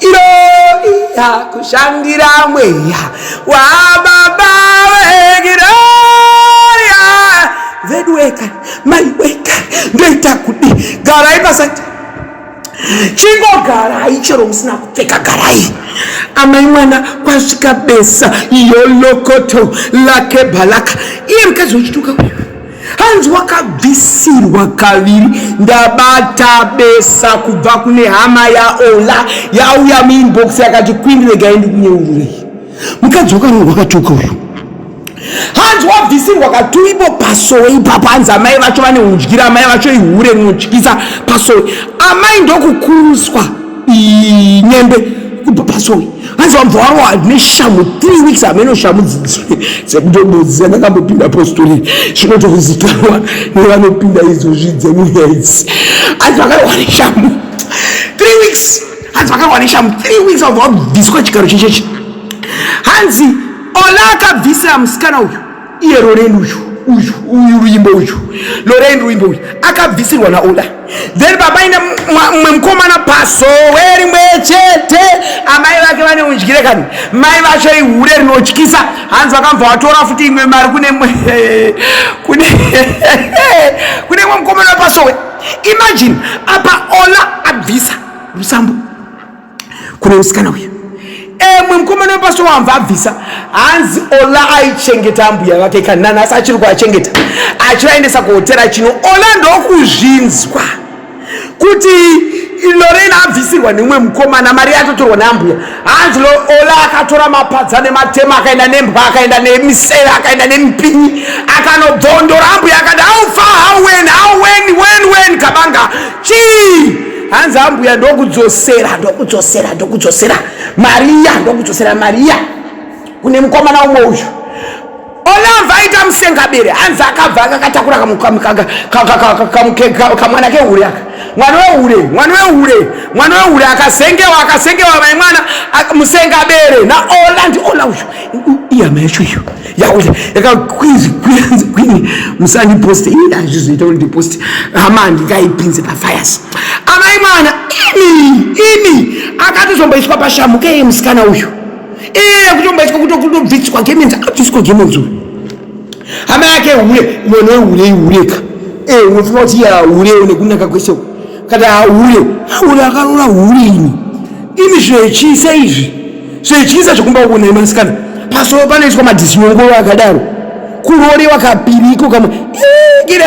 iroiya kushandira mweya wababa wegiroria vedu weka mai weka ndoita kudi garai pasati chingogarai chero musina kupfeka garai amai mwana kwasvika besa yolokoto lake balaka iye mukadzi wechituka uyu hanzi wakabvisirwa kaviri ndabata besa kubva kune hama yaola yauya muinbox yakati kwindi regai ndikunyeururei mukadzi wakarongwa akatuka uyu hanzi wabvisirwa katuipo pasowe ipapo hanzi amai vacho vane udyira amai vacho ihure rinotyisa pasowe amai ndokukuruswa nyembe kubva pasoi hanzi vabva varowa neshamu three weeks hameno shamu dzekutobodzisa ndakambopinda apostori zvinotozikanwa nevanopinda izvozvi dzemuya idzi hanzi vakarowa neshamu three weeks hanzi vakarowa neshamu three weeks vabva vabviswa chigaro chechechi hanzi ola akabvisira musikana uyu iye loreni uyu uyu uyu ruimbo uyu loreni ruimbo uyu akabvisirwa naoda then papaine mumwe mukomana pasowe rimwe chete amai vake vane undyire kani mai vacho ihure rinotyisa hanzi vakambva vatora futi imwe mari kune kune kune mwe mukomana wepasowe imagine apa ola abvisa rusambo kune musikana uyu emwe mukomana wepasito wamva abvisa hanzi ola aichengeta ambuya vake kanana asi achiri kuachengeta achivaendesa kuhotera chino ola ndokuzvinzwa kuti lorena abvisirwa neumwe mukomana mari yatotorwa neambuya hanzi ola akatora mapadza nematema akaenda nembwa akaenda nemiseve akaenda nemipinyi akanobvondora ambuya akati haufa hawen hawen wen wen kabanga chii hanzi ambuya ndokudzosera ndokudzosera ndokudzosera mariya ndokudzosera mariya kune mukomana umwe uyu olava aita musengabere hanzi akabva akakatakura kamwana kehure aka mwana wehure mwana wehure mwana wehure akazengewa akazengewa mai mwana musengabere naola ndiola uyu iyama yacho iyo yakuita yakakwizi kwizi kwini musandiposte ii hazvizoita kuti ndiposte hama handingaipinze pafires amai mwana ini ini akatozomboiswa pashamu keye musikana uyu iye kutomboiswa kutokutobviswa gemenzi akabviswa gemenzi uyu hama yake hure mwana wehure ihureka e eh, unofunga kuti iya hure nekunaka kwese uku Kati ahure, ahure akaroora hure ini. Imi zvechiisa izvi, zvechiisa zvekumba kuona imasikana. Pasowo panoiswa madisiongoro akadaro. Kurorewa kapiriko kamwe. Igira!